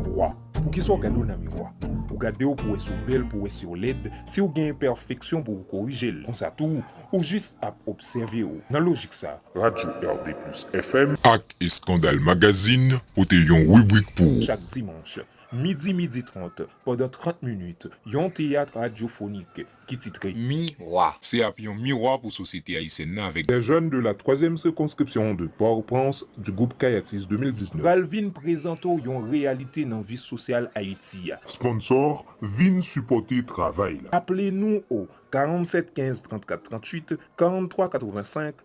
Miwa Poukisa w gade w nan miwa? Ou gade w pou wè si w bèl, pou wè si w lèd, si w gen enpèfeksyon pou w korije l. Konsa tou, ou jis ap obsève w. Nan lojik sa, Radyo RDplus FM. Ak Eskandal Magazine pote yon ribrik pou ou. Chak dimanch, midi midi trant, pandan 30 minit, yon teyat radyofonik. ki titre Mi Rwa. Se ap yon mirwa pou sosyete ayisyèn nan avèk. Des jeunes de la troisième circonscription de Port-au-Prince du groupe Kayatis 2019. Pral vin prezante w yon reyalite nan vi sosyal Ayiti a. Sponsor, vin sipòte travay la. Aple nou o 47 15 34 38, 43 85,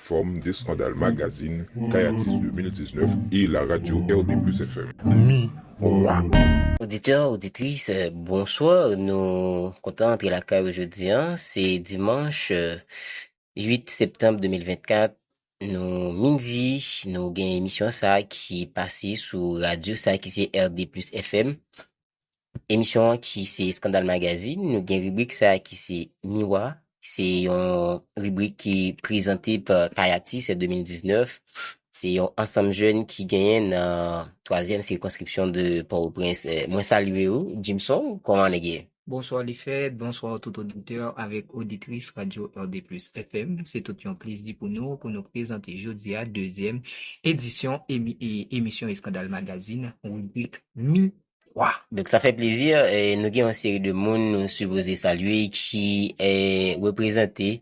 Fòm de Skandal Magazine, Kay Atis 2019 e La Radio RD Plus FM. Miroir. Oditè, oditris, bonswa! Nou kontan antre lakay ou jodi an. Se dimanch 8 septanm 2024, nou midi. Nou gen emisyon sa ki pase sou radyo sa ki se RD Plus FM. Emisyon an ki se Eskandal Magazine, nou gen ribrik sa ki se Miwa, se yon ribrik ki prezante pa Kayati Sè 2019, se yon ansanm jèn ki genyen nan twazyèm sikonskripsyon de Pòtoprens. Mwen salye ou, Jimson, kòman nèg ye? Bonswa Lefè, bonswa tout oditè avèk oditris Radyo RDplus FM. Se tout yon plezi pou nou pou nou prezante jodi a dezyèm edisyon emisyon Eskandal Magazine, ribrik Mi. Wa! Donk sa fè plezi, nou gen yon seri de moun nou sipoze salye ki reprezante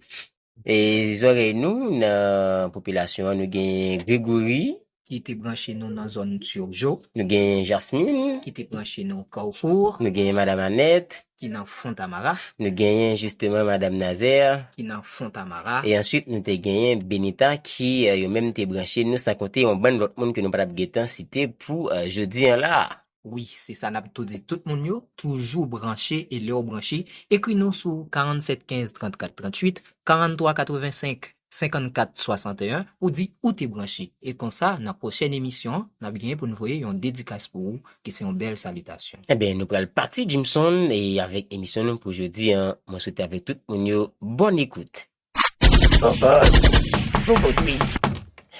zòrèy nou nan popilasyon an. Nou gen Gregory. Ki te branche nou nan zòn Turgeau. Nou gen Jasmine. Ki te branche nou Carrefour. Nou gen Madam Annette. Ki nan Fontamara. Nou genyen jisteman Madam Nazaire. Ki nan Fontamara. E answit nou te genyen Benita ki yo menm te branche nou san konte yon bann lòt moun ke nou pa tap gentan site pou jodi an la a. Wi, se sa nap tou di tout moun yo, toujou branche e lè ou branche, ekri nou sou 47 15 34 38, 43 85. 54 61 ou di ou te branche e konsa nan pwochèn emisyon an nap genyen poun voye yon dedikas pou ou ki se yon bèl salitasyon. Enben nou pral pati Jimson e avèk emisyon nou pou jodi an mwen swete avèk tout moun yo bòn ekout. Bòbòt! Bòbòt wi!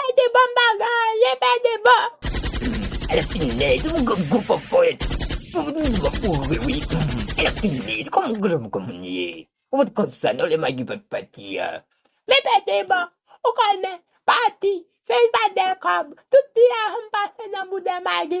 Ebè de bon bagay ebè de bon. Ala finèz ou gwo gwo pòpòt pou ou vin twò foure wi ala finèz kòman granmoun kòman ou ye ou pat konsa non lè magi pat pati a. Men bè de bon ou konnen pati se li pat gen kòb tout ti ajan m pase nan boudè magi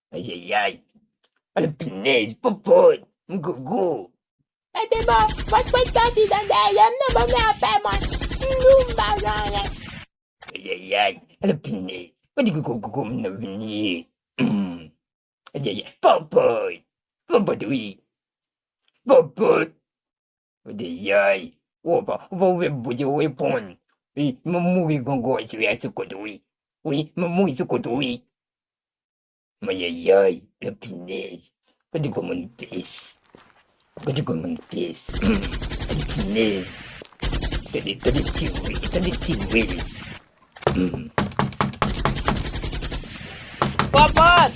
Ayayay! Ala pinèz, popot, mgogo! Sa te bon! Pwèt pwèt sòti dan dèyè m nan ban m lapè mwen! Mdou m pa gen anyen! Ayayay! Ala pinèz! Kote gogogogo m nan vini ye? Humm! Ayayay! Popot! Popot wi! Popot! Ou di yoy, ou pa ou ve bouche ou reponn. Wi, mwen mouri gongòy sou ya sou kote wi. Wi, mwen mouri sou kote wi. Mwen ye yoy, le pinèz. Ou di kon moun pis. Ou di kon moun pis. Ou di pinèz. Ou di ti wi, ou di ti wi. Pòpòt!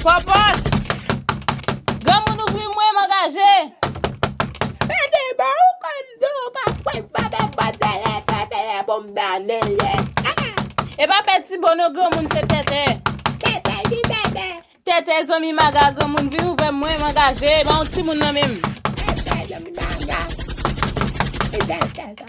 Pòpòt! Granmoun ouvri mwen m angaje! Pete bò ou konn di w pa fwenk pete pòt dèyè tete ye pou m dòmi l ye Tete! E pa pèti bò non granmoun se tete! Tete ki tete! Tete zanmi maga granmoun vin ouvè mwen m angaje ban w timoun nan men m! Tete zanmi maga! Tete tete!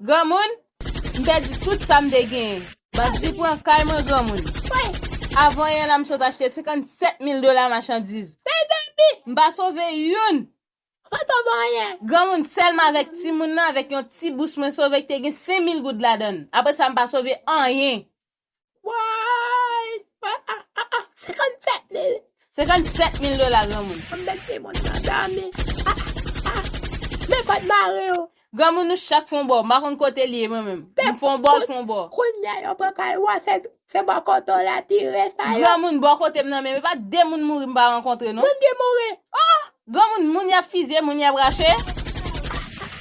Granmoun, m pèdi tout sa m te genyen. Bandi pran kay mwen granmoun. Avanyè la m sot achte 57 mil dola machandiz. M pa sove youn. Granmoun, sèlman avèk timoun nan, avèk yon ti bous mwen sove ki te gen 5 mil goud ladan l. Apre sa m pa sove anyen. Woy! Woy! A! A! A! 57 mil! 57 mil dola granmoun! An mèt de moun nan dòmi! A! A! Men kòd mari ou! Granmoun nou chak fon bò, m pa konn kote li ye mwen menm. M fon bò, l fon bò. Kounya yo pran kay ou a, se bò kote w la ti re sa yo. Granmoun bò kote m nan menm, e pa de moun mouri m pa rankontre non. Moun ki mouri! Oh! Granmoun moun yap fizye moun yap rache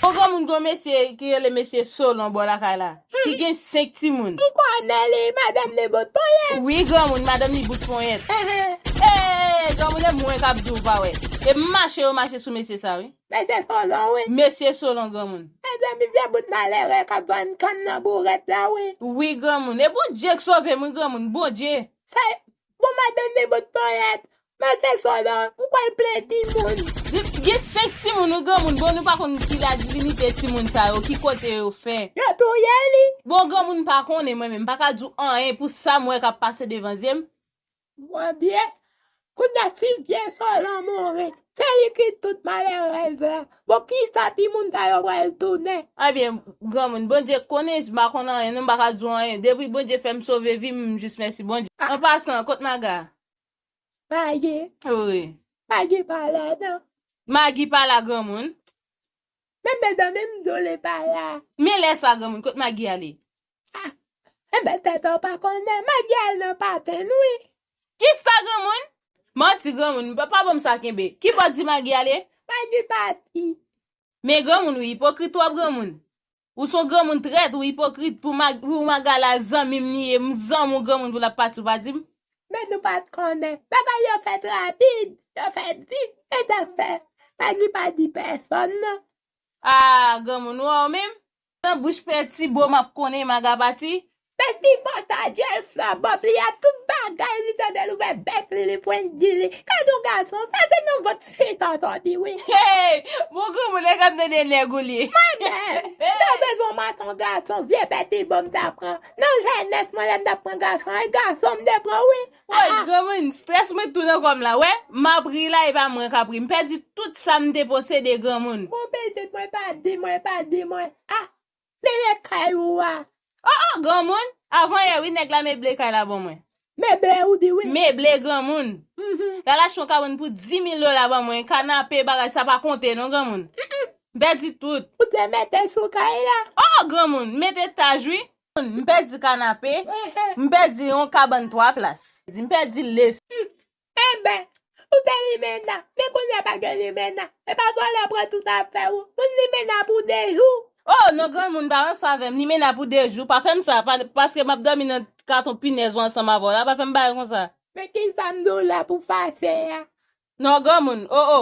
Yon granmoun gon mesye ki rele mesye Solon bò lakay la ki gen 5 timoun. M konnen li madanm li bout ponyèt. Wi granmoun madanm li bout ponyèt. Eehh granmoun e mwen kap diw pa wè e mache yo mache sou mesye sa wi. Mesye Solon wi. Mesye Solon granmoun. Mezanmi vye bout malere kap vann kann nan bourèt la wi. Wi granmoun e Bondye k sovem wi granmoun Bondye. Sa Bon madanm de bot ponyèt. Mwen fè fò nan, m kwè l plen timoun. Gen 5 timoun ou granmoun bon nou pa konn ki la divinite timoun sa yo ki kote yo fè. Yo touye li. Bon granmoun m pa konnen mwen menm m paka di w anyen pou sa m wè kap pase devan zye m. Mwen byen, kounya si vye Solan mouri. Se li ki tout malerèz la. Bon kisa ti moun sa yo pral tounen. Ebyen granmoun Bondye konnen si m pa konn anyen non m pa ka di w anyen depi Bondye fè m sove vi m m jis mèsi Bondye an pasan kot Maga a? Magi Ou ri. Magi pa la nan. Magi pa la granmoun. Men medanm m di w li pa la. Men lè sa granmoun kot Magi ale? Ah eh ben tèt an pa konnen met gel nan patenn wi. Kisa granmoun? Manti granmoun pa banm sa kenbe. Ki bò di Magi ale? Magi pati. Men granmoun ou ipokrit twòp granmoun. Ou son granmoun trèt ou ipokrit pou Magala zanmim li ye m zanm ou granmoun pou lap pati ou pa dim. Men nou pat konnen. Bagay yo fèt rapid, yo fèt vit e sak fè Magi pa di pèsòn nan. Ah granmoun ou a ou menm? Nan bouch peti bo map konnen maga pati. Peti bo sa duel sa bob li a tout bagay li tande l ouvè bèk li li pwen di li gad on gason sa se non vant fek an sòti wi. Hey bon granmoun nèg ap tande nèg ou li. Mwen menm m ta bezwen mat on gason vye peti bo m ta pran nan jènès mwen lè m tap pran gason e gason m te pran wi. Woy granmoun stress mwen tou nan kòm la wè map ri la epa mwen kap ri m pèdi tout sam te posede granmoun. Bon pitit mwen pa di mwen pa di mwen ah mele kay ou a. Oh oh granmoun avan yè wi nèg la meble kay la bon mwen. Meble ou di wi. Meble granmoun. Lal achte yon kabann pou 10000 dola ban mwen kanape bagay sa pa konte non granmoun. M pèdi tout. Ou te mete sou kay la. Oh oh granmoun m mete taj wi. M pèdi kanape, m pèdi yon kabann 3 plas. M pèdi les. Enben, ou te limena, men kounya pa gen limena. Epa vòlè pran tout afè ou. Moun limena pou 2 jou. O non granmoun pa ranse avè m, limena pou 2 jou. Pa fè m sa, paske m ap dòmi nan katon pinèz ou ansanm avè w la, pa fè m bagay konsa. Men kisa m di w la pou fache a. Non granmoun, o o.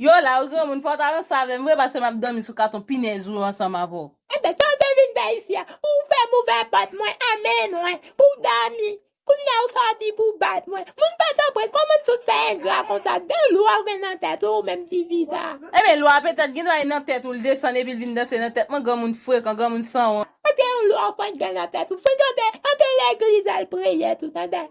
Yo la wi granmoun fòw ta ranse avèm vre paske map dòmi sou katon pinèz ou ansanm avèw. Ebyen sa ou te vin fè isi a pou ou fèm ouvè pòt mwen an men mwen pou w dòmi kounya ou sòti pou w bat mwen moun pòtoprens kòman n fout fè engra konsa ki jan lwa ou gen nan tèt ou ou menm ti fi sa a. Ebyen lwa petèt gen dwa li nan tèt ou l desann epi l vin danse nan tèt mwen granmoun frekan granmoun sanwont. Ebyen yon lwa ou fenk gen nan tèt ou fenk tande antre legliz al priye tou tande.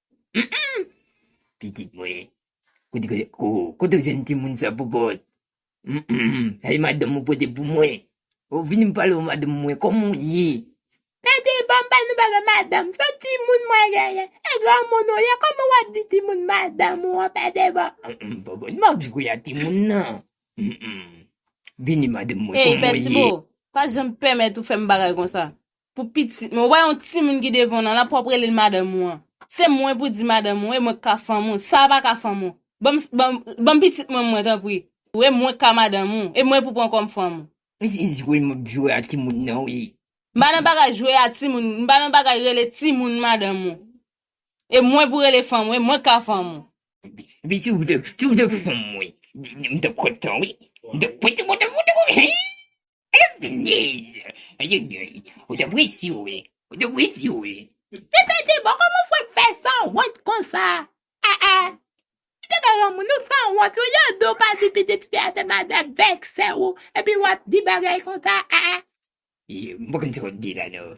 Humm pitit mwen kote oh kote ou jwenn timoun sa bobot Humm e madanm ou pote pou mwen oh vini m pale w madanm mwen kòman w ye Tande banm ba nou bagay madanm se timoun mwen genyen e granmoun ou ye kòman wap di timoun madanm ou an tande bon Humm bobot map jwe a timoun nan Humm vini madanm mwen Hey kòman w ye. Pètiboo, pa janm pèmèt ou fè m bagay konsa. Pou pitit mwen. Ou pa yon timoun ki devan w nan, la pou wap rele l madanm ou an. Se mwen pou di madanm ou, e mwen ki ka fanm ou. Sa a pa ka fanm ou. Ban m, ban m pitit mwen mwen tanpri. Ou e mwen ki ka madanm ou, e mwen pou pran kòm fanm ou. Men se jwe map jwe a timoun nan wi. M pa nan bagay jwe a timoun, m pa nan bagay rele timoun madanm ou. E mwen pou rele fanm ou, e mwen ki ka fanm ou. Epi si ou te, si ou te fanm mwen, m tap kontan wi. M tap, m tap kontan, m tap kontan, hee. Eveline! Eveline! Ou te presi wi. Ou te presi wi. Pipiti bon kòman fè k fè sanwont konsa aa ou te gen yon moun ou sanwont ou yon di ou pa di pitit fi a se madan bèk sè ou epi wap di bagay konsa aa. M pa konn sa wap di la non.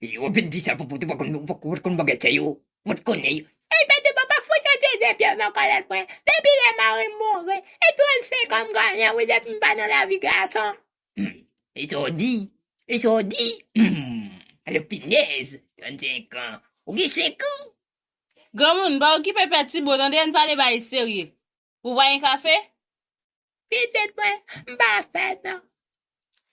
Yo ap vin di sa poupou te pa konn ou pat konn bagay sa yo ou pat konnen yo. Ey pèdi papa fout yon ti zen pye nan kòlèt mwen depi lè marim mouri e 35 ans m ganyen wi depi m pa nan lavi gason. Humm e sa w di e sa w di humm alò pinèz 35 ans ou gen 5 ans. Granmoun, pa okipe pè ti bo tande ann pale bagay serye. Ou pa gen kafe? Pitit mwen, m pa fè nan.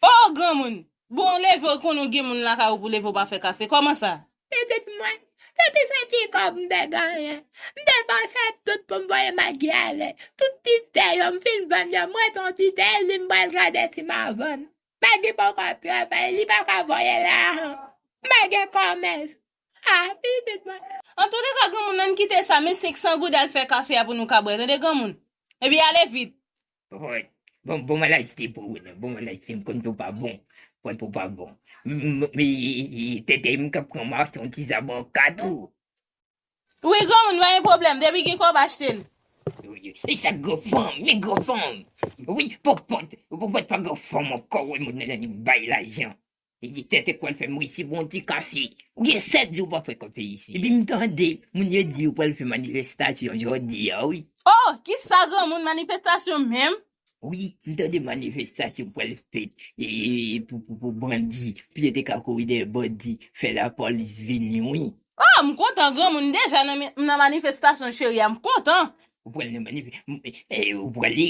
O, granmoun! Bon, ou leve ou konnen ou gen moun lakay ou pou leve ou pa fè kafe. Kòman sa? Pitit mwen, depi se ti kòb m te genyen, m depanse tout pou m voye Magi ale. Tout ti te yo m fin vann yo, m rete yon ti te e li m pral gade si m a vann. Magi poko ap travay, li pa ka voye la a. M pa gen kòmès. Ah pitit mwen. Antouleka granmoun nan kite sa men 500 goud al fè kafe a pou nou ka bwè tande granmoun Epi ale vit. Pòt bon bon malaj se pou ou nan bon malaj se m konn tou pa bon pòt ou pa bon tete m kap pran mas yon ti zabò kat ou. Wi granmoun pa gen pwoblèm depi gen kòb achte l. Li sa gran fanm men gran fanm wi pòpòt pòpòt pa gran fanm ankò wè moun nan li bay lajan. Li di tèt e pwal fèm ri si bon ti kafe. Ou gen 7 jou ou pa frekwante isi. Epi m tande moun yo di yo pwal fè manifestasyon jodi a wi. Oh ki sa granmoun manifestasyon menm? Wi m tande manifestasyon pwal fèt pou bandi pou yo te ka kouri dèyè bandi fè la polis vini wi. Oh m kontan granmoun m deja nan manifestasyon cheri a m kontan. Ou pwal nan manifestasyon? Ou pwale?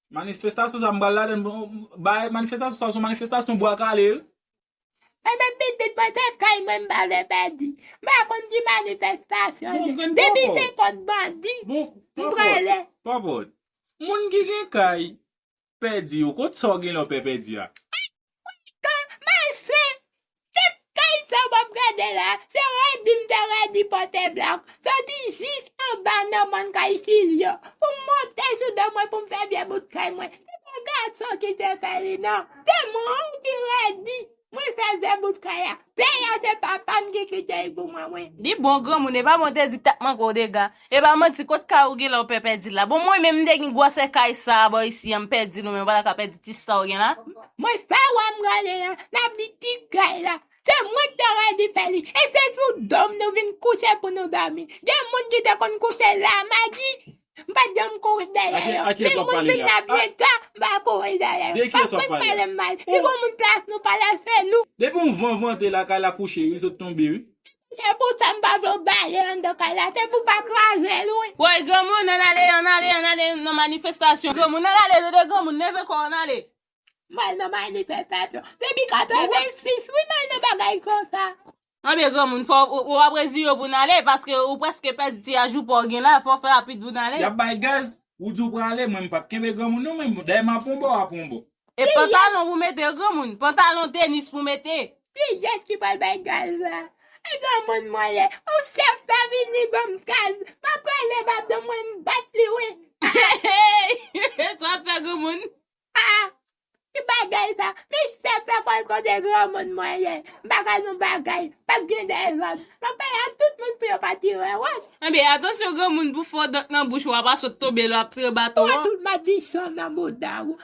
Manifestasyon sa m pral ladann bagay manifestasyon sa son manifestasyon bwa kale wi. Mwen menm pitit mwen tèt kay mwen m pa vle pèdi m pa konn ki manifestasyon li ye depi se kont bandi m prale. Papòt. Moun ki gen kay pèdi yo kot sa w gen lè w pè pèdi a. Welcome my friend Ket kay sa wap gade la se Redi m te Redi pote blòk soti jis anba nan mòn kay silyo pou m monte sou do mwen pou m fè vye bout kay mwen se pa gason ki te fè li nan se mwen ki Redi mwen fè vye bout kay a kay a se papa m ki kite l pou mwen mwen. Li bon granmoun epa bon te di tap manke w dega. Epa manti kot kay ou genlè ou pè pèdil la bon mwen menm m te gin gwòsè kay sa bò isi an m pèdil ou menm ou pa ta ka pèdi ti sa ou gen la. Mwen sa wè m rele an nap di ti kay la se mwen ki ta ka di fè li e se sou dom nou vin kouche pou nou domi gen moun ki te konn kouche la magi m pat janm kouri dèyè yo men moun vin la pi ta m pa kouri dèyè yo pa fenk pale m mal si gon moun plas nou pale se nou. Depi yon van vante lakay la kouche wi li sot tonbe wi. Se pou sa m pa vle w bale anndan kay la, se pou w pa kraze l wi. Woy granmoun ann ale ann ale ann ale nan manifestasyon granmoun ann ale dede granmoun leve kò w ann ale. M al nan manifestasyon depi 86 wi m al nan bagay konsa. Anben granmoun fò w wap reziye w pou n ale paske ou prèske pèdi ti ajou pa w gen la fò w fè rapid pou n ale. Yap bay gaz, ou di w prale mwen m pap kenbe granmoun non men dayè m ap on bò w ap on bò. E pantalon pou mete granmoun. Pantalon tenis pou mete. Kiyès ki pral bay gaz la. E granmoun mwen ye. Ou chèf ta vini banm gaz. Map rale madanm mwen m bat li wi. Heeyy sa wap fè granmoun. Haa ki bagay sa. Men chèf la fòl konnen granmoun mwen ye. M paka nou bagay. Pap gen dezòd. Map pale ak tout moun pou yo pa tire wòch. Ebyen atansyon granmoun pou fo dent nan bouch ou a pa sot tonbe lè wap tire baton an. Ou wè tout madichon nan mouda ou.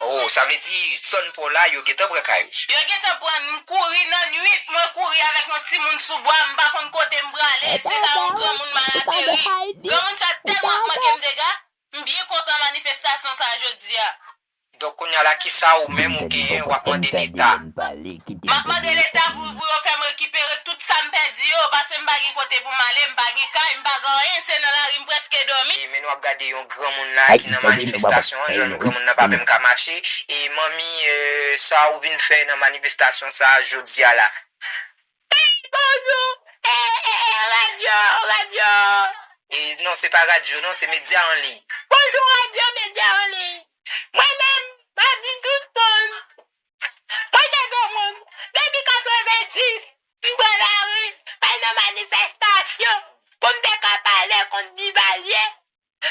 Oh sa vle di son paw la yo gentan pran kay ou. Yo gentan pran l m kouri nan nwit mwen kouri avèk yon timoun sou bwa m pa konn kote m prale se ka yon granmoun m al ateri granmoun sa tèlman ap manke m dega m byen kontan manifestasyon sa jodia. Donk kounya la kisa ou menm ou genyen wap mande leta. pale kite m Map mande tande leta pou pou yo fèm rekipere tout sam pèdi yo paske m pa gen kote pou m ale m pa gen kay m pa gen anyen se nan lari m preske domi. E men nou ap gade yon granmoun la ki nan manifestasyon an jan granmoun nan pa menm ka mache e manmi sa ou vin fè nan manifestasyon sa jodia la. Peyy Bondou eh eh eh radyo radyo eh eh non se pa radyo non se medya an liy. Bonjou radyo medya an liy mwen menm map di tout moun Mwen se gwo moun, depi 90, m pran lari, m al nan manifestasyon pou m te ka pale kont Divalye.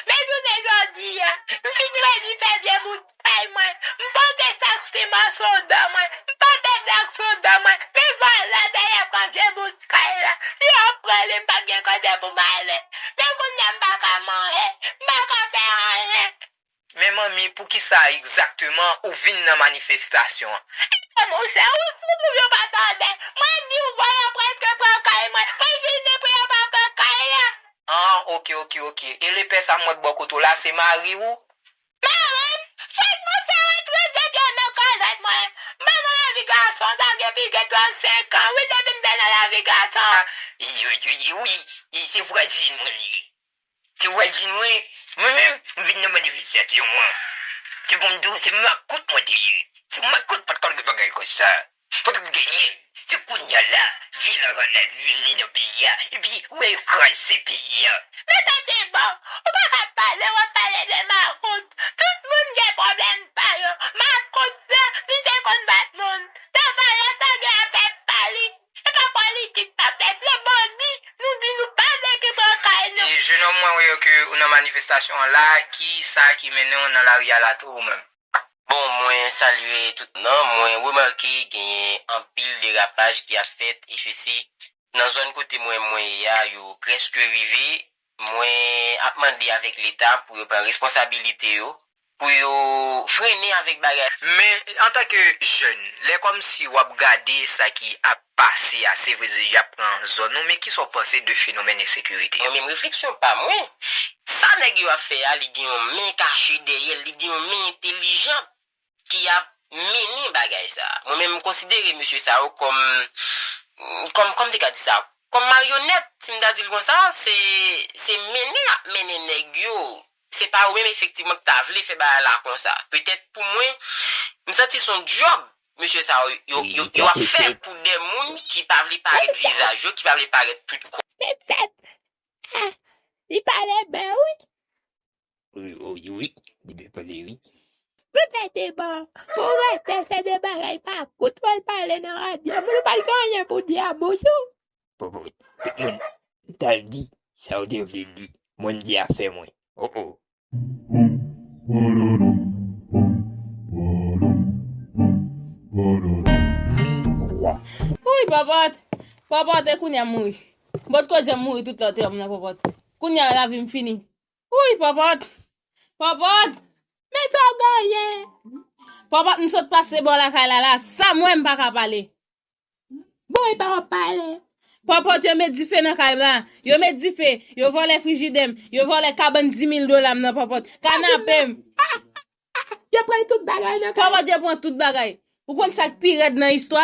Men jounen jodi a, m fin redi fè vye boutèy mwen, m pote sak siman sou do mwen, m pote blòk sou do mwen, men vòlò dèyè pran vye boutèy la. Si yo pran li, m p ap gen kote pou m ale. Men kounye a m pa ka manje, m pa ka fè anyen. Men manmi poukisa egzakteman ou vin nan manifestasyon an? Edem ou se ou ki pou yo pa tande mwen diw volan preske pran kay mwen mwen vin depi anba kè kay la. An ok ok ok e lepè sa m wè k bò kote w la se mari ou? Marim, fèk mwen fè retrèt depi an nan kazèt mwen m pa nan lavi gason sa gen plis ke 35 ans wi depi m te nan lavi gason. An ui ui ui ui se vwazin mwen li ye. Se wè di mwen, mwen menm m vin nan manifestasyon an. Se pou m di w se makout mwen te ye. Se makout pa t konn gen bagay konsa. Pa t ap genyen. Se kounya la vil an va la vire nan peyi a epi ou al kraze peyi a. Men tande bon, ou pa ka pale w ap pale de makout. Tout moun gen pwoblèm pa yo. Makout la, li te konn bat moun. Tavalè pa gen afè pa li. Se pa politik pap fèt non bandi nou di nou pa vle ki pran kay nou. Jenòm mwen wè ke ou nan manifestasyon an la ki sa ki mennen w nan lari a la tou ou menm? Bon mwen salye tout nan mwen remake genyen anpil derapaj ki ap fèt eswesi nan zòn kote mwen mwen ye a yo preske rive Mwen ap mande avèk leta pou yo pran responsabilite yo, pou yo frennen avèk bagay. Men, antan ke jèn, lè kòmsi w ap gade sa ki ap pase a, se vre ze y ap pran zòn ou, men kisa w panse de fenomèn ensekirite a? Mwen menm refleksyon pa mwen, sa nèg yo ap fè a li gen yon men kache dèyè l, li gen yon men entelijant. ki ap mennen bagay sa. Mwen menm m konsidere mesye sa yo kòm, kòm, kòm m te ka di sa, kòm maryonèt, si m ta di l konsa, se, se mennen y ap mennen nèg yo, se pa yo menm efektivman ki ta vle fè bagay la konsa. Petèt pou mwen, m santi s on dyòb mesye sa yo, yo, yo, yo ap fè pou de moun ki pa vle parèt vizaj yo, ki pa vle parèt tout kò. Petèt, ah, li pale byen wi. Wi, li byen pale wi. Mwen fè deba, pou wè fè fè de bagay pa kout wè l pale nan radyo, moun ou pa t gen anyen pou di a bonjou. Popo, tout moun ta l di sa yo te vle di, mwen m di afè mwen. Oh oh. Wouyy Pòpòt, Pòpòt e kounye a m mouri. Bon koze m mouri tout lòt tan m nan Pòpòt. Kounye a lavi m fini. Wouyy Pòpòt! Pòpòt! Men sa w genyen! Pòpòt m sot pase bò lakay la la, sa m wè m pa ka pale. Bon epa wap pale. Pòpòt yo met dife nan kay m la. Yo met dife, yo vòlè frijidè m, yo vòlè kabann 10000 dola m nan Pòpòt. Kanape m. Yo pran tout bagay nan kay. Pòpòt yo pran tout bagay. Ou konn sa k pi rèd nan istwa?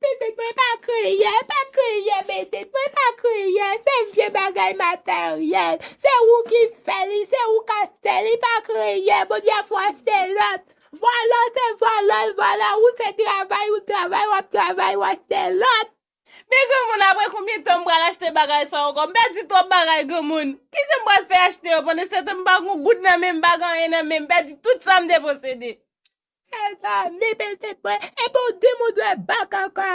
Bended mwen pa kriyè, pa kriyè Bended mwen pa kriyè se vye bagay materyèl se ou ki fè li se ou ka fè li pa kriyè Bondye a fwa se lòt vòlò se vòlò l vòlò ou se travay ou travay wap travay wap fwa se lòt. Men granmoun aprè konbyen tan m pral achte bagay sa ankò m pèdi twòp bagay granmoun kisa m pral fè achte yo pandan setan m pa gon goud nan menm m pa gen anyen nan menm m pèdi tout sa m te posede. Eva me bel tet mwen epi ou dim ou dwe ba kaka.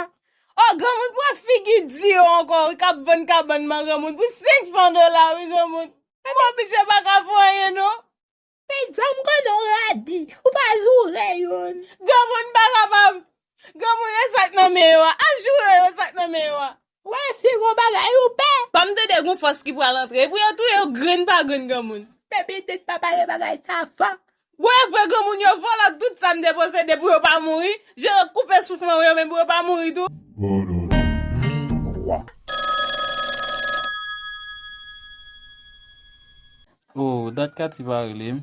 Oh granmoun pran figi di yo ankò wi kap vann kabann man granmoun pou 5 fran dola wi granmoun Bon biche paka fè anyen non. Peyizan m konnen w radi, ou pa joure youn. Granmoun m pa kapab. Granmoun e sak nan men yo a. Al joure yo sak nan men yo a. Wè fi gon bagay ou pè. Pam tande gon fòs ki pral antre epou yo touye yo grenn pa grenn granmoun. Pè pitit pa pale bagay sa fò. Bon evre granmoun yo vòlò tout sam te posede pou yo pa mouri, je yo koupe souf mwen yo menm pou yo pa mouri tou. Miroi. Oh dat Katy pa relem.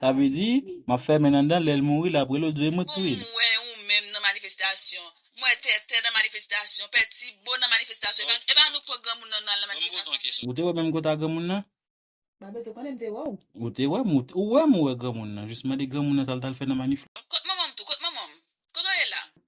Sa vle di, map fèmen anndan lèl mouri lap rele w dwe mwen t touye l. Ou wè ou menm nan manifestasyon. M wè tètè nan manifestasyon. Pè ti bo nan manifestasyon. E pa nou k pran granmoun nan nan manifestasyon. Ou te wè menm kota granmoun nan? M pa bezwen konnen m te wè w. Ou te wè m ou wè m ou wè granmoun nan jis mande granmoun nan sa l t al fè nan manif la. Kot manman m tou kot manman m. Kote w ye la?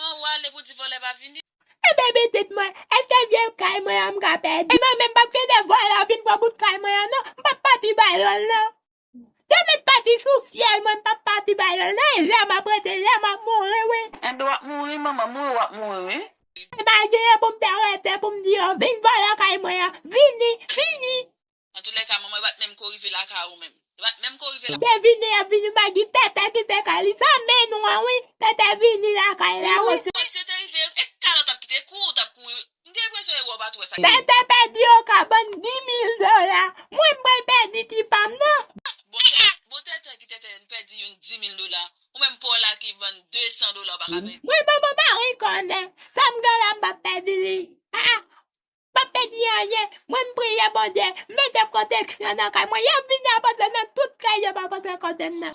An ou ale pou di vòlè pa vini. Ebyen pitit mwen, eske vye kay mwen an m ka pèdi? Mwen menm m pap kite vòlè a vin pran bout kay mwen an non, m pap pati bay yo l non. Yo mèt pati sou fyèl mwen m pap pati bay yo l non, e lè m ap rete la m ap mouri wi. Enben w ap mouri manman, mouri w ap mouri wi. Epa genyen pou m te rete pou m di yo vin vòlè kay mwen an, vini, vini. Antoulèka manman yo pat menm ko rive lakay ou menm. Yo pat menm ko rive. Tètè vini yap vini bagy tètè ki te kay li fèmen nou an wi tètè vini lakay la wi. Bon si yo te rive e kalot ap kite kou ou tap kouri m gen enpresyon ewa ou pat wè sak. Tètè pèdi oka bann di mil dola mwen m pral pèdi ti pam nan. Bon tètè ki tètè n pèdi youn di mil dola ou menm paw la ki vann 200 dola ou paka pèdi. Mwen bon mwen pa rekonnen sam gen la m pap pèdi li haa. Pa pèdi anyen, mwen m priye Bondye mete pwoteksyon nan kay mwen, yap vini ap antre nan tout kay yo pa antre kote m nan.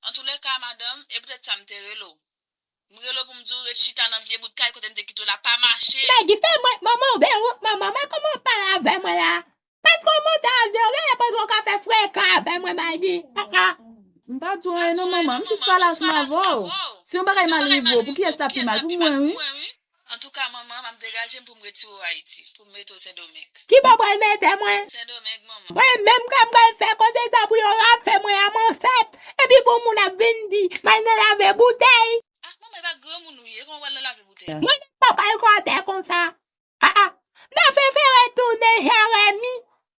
Antoulèka madanm, e poutèt sa m te rele w. M rele w pou m di w ret chita nan vye bout kay kote m te kite w la, pa mache! Magi, fè mwen, manman w gen wont manman, mwen kòman w pale avè mwen la? Patko w monte avyon w genlè panse w ka fè frekan avè mwen Magi, ah ah. M pa di w anyen non manman, m jis pale asma avè w. Si yon bagay mal rive w, pou kiyès lap pi mal, pou mwen wi. Antouka manman map degajem poum retire w ayiti poum mete w sendomeng. Kibo pral mete mwen. Sendomeng manman. Mwen menm kèm pral fè koze sa pou yo rafe mwen a m'en fèt epi pou moun ap vin di mal nan lave boutèy. Ah manman epa granmoun ou ye kòman wal nan lave boutèy la. Mwen menm mpa pral kòtè konsa aa nan fefere tounen jeremi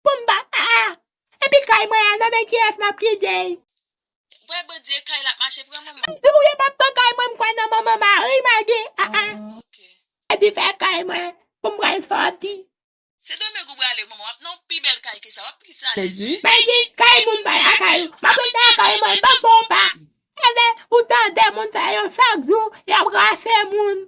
poum ba aa epi kay mwen a nan men kiyès map kitey. Wè bndye kay la ap mache pran manman. Map touye map pran kay mwen mkwè nan manman mari magi aa fè dife kay mwen poum pral soti. Se domeng ou brale manman wap nan yon pi bel kay ke sa wap plis alez wi. Magi kay moun pa lakay ou map rete lakay mwen banm bon pa ale ou tande moun sa yo chak jou yap rase moun.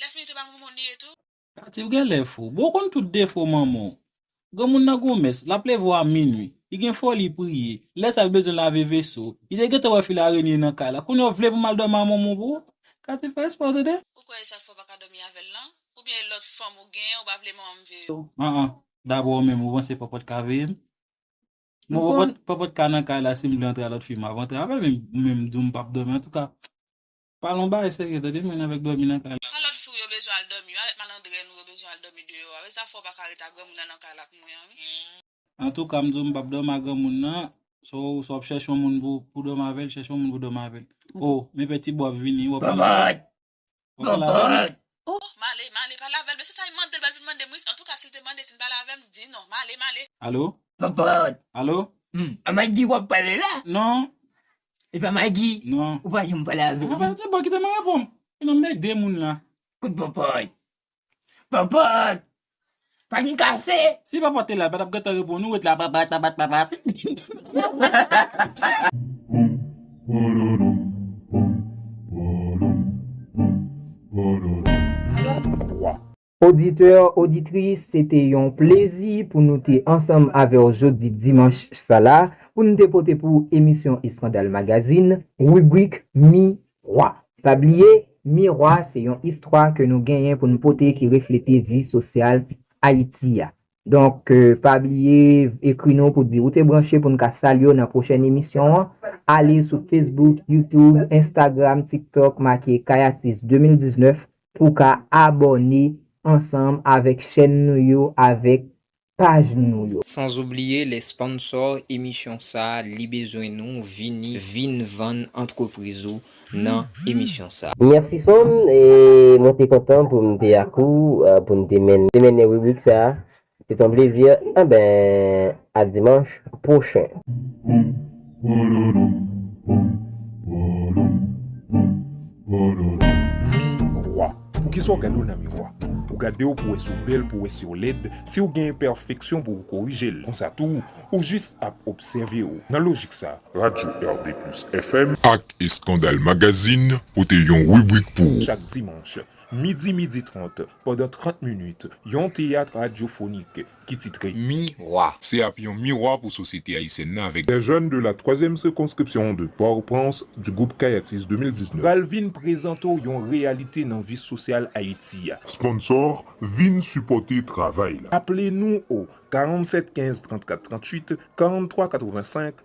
Lè fini te pa moun moun li ye tou. Tati ou genlè fou. Bon ou konn tout defo manmanw. Granmoun nan gon mès, lap leve w a minwi. Li gen foli priye. Lè sa li bezwen lave veso. Li te gentan wè fil arenye nan kay la. Kounye a w vle pou mal domi a manmanw pou ou? Katie fè espre w tande. Ou kwè esak fè w paka domi avèl lan? Ou byen e lòt fanm ou genyen ou pa vle manmanm veye w? An an. Dabò ou menm ou panse papa w t ka veye m? Bon papa w t papa w t ka nan kay la sim vle antre a lòt fi map antre avèl men ou menm m di w m pap domi antouka. Pale yon bagay serye tande mwen avek domi nan kay la. Sa lot fou yo bezwen al domi yo alet malandren nou yo bezwen al domi deyo a wi sa fè w paka ret a granmoun nan nan kay la ak mwen an wi. Antouka m di w m pap domi a granmoun nan so w wap chèche yon moun pou domi avèl chèche yon moun pou domi avèl oh men pè ti bo ap vini wap pale avèl wap pale avèl Ohh male male pale avèl mesye sa li mandel bal vin mandem wi antouka sil te mande sin pale avèm di non male male. Alo Papa Alo Humm a Maggie wap pale la Non Li pa Maggie Non Ou pa janm pale avèl wi Papa se bon kite mwen repom Enon mède moun la Kout papa Papa Pa gen kafe. Si pa pote la, l pa tap gentan reponn ou, ret la bat bat bat bat bat bat. Poum, pororom, poum, pororom, poum, pororom. Lòt vwa. Oditè, oditris, se te yon plezi pou nou te ansanm avè w jodi dimanch sa la pou n te pote pou w emisyon Eskandal Magazine, ribrik Mi 3, Pa bliye, Mirwa se yon istwa ke nou genyen pou nou pote ki reflete vi sosyal Ayiti a. Donk, pa bliye ekri nou pou di ou te branche pou nou ka salye w nan pwochèn emisyon an. Ale sou Facebook, YouTube, Instagram, TikTok make Kayatis 2019 pou w ka abòne ansanm avèk chèn nou yo avèk paj nou yo. Sans oublier les sponsors emisyon sa li bezwen nou vini vin vann antrepriz ou nan emisyon sa. Merci Son, mwen te kontan pou m te ak ou pou n te mennen ribrik sa. Se t on plezi. Enben, a dimanch pwochen. Miwa, poukisa ou gade w nan miwa? Ou gade w pou wè si w bèl, pou wè si w lèd, si w gen enpèfeksyon pou w korije l. Konsa tou, ou jis ap obsève w. Nan lojik sa, Radyo RBplus FM. Ak Eskandal Magazine pote yon ribrik pou ou. Chak dimanch, midi midi trant, pandan trant minit, yon teyat radyofonik ki titre Miwa. Se ap yon miwa pou sosyete ayisyèn nan avèk. Des jeunes de la troisième circonscription de Port-au-Prince du groupe Kayatis 2019. Pral vin prezante w yon reyalite nan vi sosyal Ayiti a. Sponsor, vin sipòte travay la. Aple nou o 47 15 34 38, 43 85,